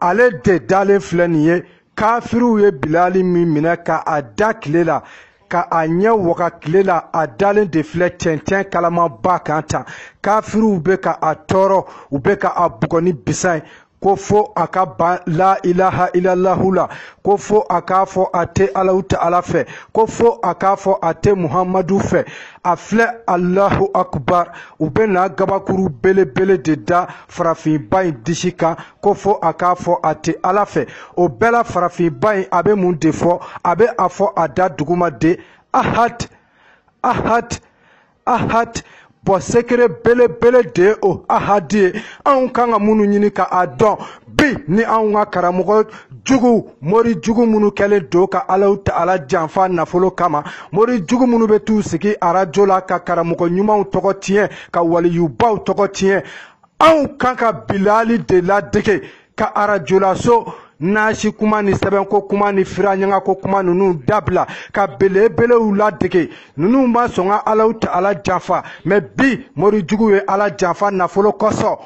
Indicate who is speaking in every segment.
Speaker 1: ale de dalen filɛ nin ye kafiriw ye bilali min minɛ ka a da tile la ka a ɲɛ waga tile la a dalen de filɛ cɛncɛn kalamaba kan tan kafiriw bɛ ka a tɔɔrɔ u bɛ ka a bugɔ ni bisa ye ko fo a ka ban la ilaha ilalahu la ko fo a k'a fɔ a tɛ alahu ta'ala fɛ ko fo a k'a fɔ a tɛ muhamadu fɛ a filɛ alahu akubar u bɛ na gabakuru belebele de da farafinba in disi kan ko fo a k'a fɔ a tɛ ala fɛ o bɛɛ la farafinba in a bɛ mun de fɔ a bɛ a fɔ a da duguma de ahad ahad ahad bon secret belebele de o ahadi ye anw kan ka minnu ɲini ka a dɔn bi ni anw ka karamɔgɔ jugu mori jugu minnu kɛlen don ka alahu ta'ala janfa nafolo kama mori jugu minnu bɛ t'u sigi arajo la ka karamɔgɔ ɲumanw tɔgɔ tiɲɛ ka waliyubaw tɔgɔ tiɲɛ anw kan ka bilali de ladege ka arajo la so nasi kuma ni sɛbɛnko kuma ni firaɲangako kuma ninnu dabila ka belebelew ladege ninnu ma sɔn ka alahu ta'ala janfa mɛ bi mori jugu ye ala janfa nafolo kosɔn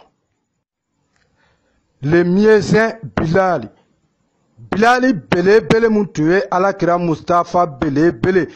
Speaker 1: le muezzin bilali bilali belebele min tun ye alakira mustafa belebele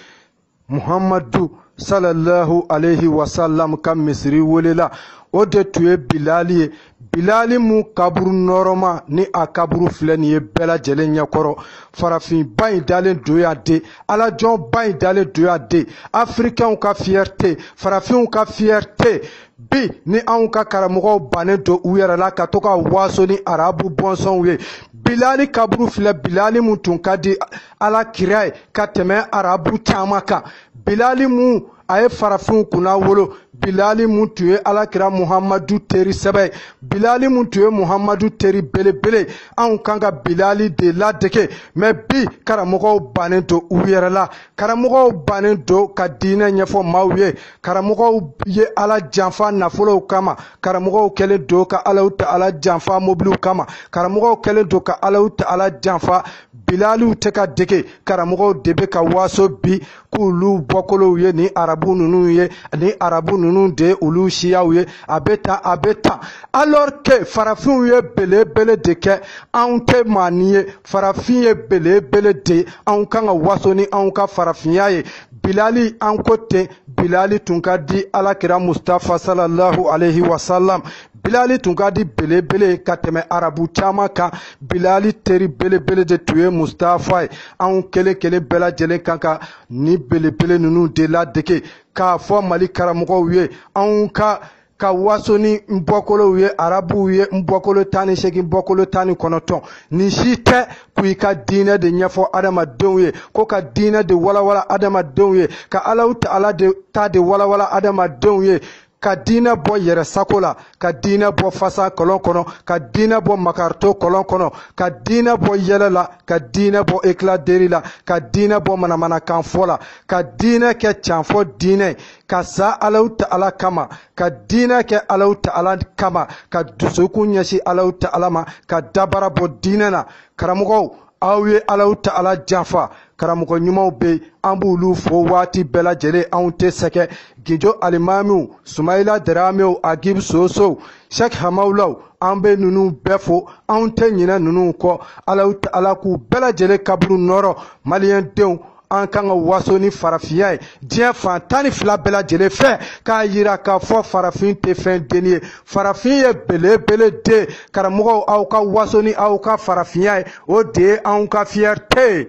Speaker 1: muhamadu salallahu alaihi wasallam ka misiri welela o de tun ye bilali ye bilali mun kaburu nɔɔrɔma ni a kaburu filɛ nin ye bɛɛ lajɛlen ɲɛkɔrɔ farafinba in dalen don yan de alajɔnba in dalen don yan de afirikɛnw ka fiyɛrite farafinw ka fiyɛrite bi ni anw ka karamɔgɔw bannen don u yɛrɛ la ka to ka waso ni arabu bɔnsɔnw ye bilali kaburu filɛ bilali min tun ka di alakira ye ka tɛmɛ arabu caman kan bilali min a ye farafinw kunnawolo bilali mun tun ye alakira muhamadu teri sɛbɛ ye bilali mun tun ye muhamadu teri belebele anw kan ka bilali de ladege mɛ bi karamɔgɔw bannen don u yɛrɛ la karamɔgɔw bannen don ka diinɛ ɲɛfɔ maaw ye karamɔgɔw ye ala janfa nafolow kama karamɔgɔw kɛlen don ka alahu ta'ala janfa mobiliw kama karamɔgɔw kɛlen don ka alahu ta'ala janfa bilaliw tɛ ka dege karamɔgɔw de bɛ ka waso bi k'olu bɔkolow ye ni arabu ninnu ye ni arabu ninnu de ye olu siyaw ye a bɛ tan a bɛ tan alors que farafinw ye belebele de kɛ anw tɛ maanin ye farafin ye belebele de ye anw kan ka waso ni anw ka farafinya ye bilali an ko ten bilali tun ka di alakira mustafa salallahu alaihi wasalam bilali tun ka di belebele ka tɛmɛ arabu caman kan bilali teri belebele de tun ye mustafa ye anw kelen kelen bɛɛ lajɛlen kan ka nin belebele ninnu de ladege k'a fɔ mali karamɔgɔw ye anw ka ka waso ni n bɔkolow ye arabuw ye n bɔkolo tan ni segin n bɔkolo tan ni kɔnɔntɔn nin si tɛ ko i ka diinɛ de ɲɛfɔ adamadenw ye ko ka diinɛ de walawala adamadenw ye ka alahu taala de ta de walawala adamadenw ye ka diinɛ bɔ yɛrɛ sago la ka diinɛ bɔ fasa kolon kɔnɔ ka diinɛ bɔ makaritɔ kolon kɔnɔ ka diinɛ bɔ yɛlɛ la ka diinɛ bɔ éclat de rire la ka diinɛ bɔ manamanakanfɔ la ka diinɛ kɛ canfɔ diinɛ ka sa alahu taala kama ka diinɛ kɛ alahu taala kama ka dusukun ɲɛsin alahu taala ma ka dabara bɔ diinɛ na karamɔgɔw aw ye alahu taala janfa karamɔgɔ ɲumanw bɛ yen an b'olu fo waati bɛɛ lajɛlen anw tɛ sɛgɛn gijo alimamiw sumayila daramew agib sosow sɛk hamawulaw an bɛ ninnu bɛɛ fo anw tɛ ɲinɛ ninnu kɔ alahu taala k'u bɛɛ lajɛlen kaburu nɔrɔ maliyɛn denw an kan ka waso ni farafinya ye diɲɛ fan tan ni fila bɛɛ lajɛlen fɛ k'a yira k'a fɔ farafin tɛ fɛn dennin ye farafin ye belebele de karamɔgɔw aw ka waso ni aw ka farafinya ye o de ye anw ka fierté ye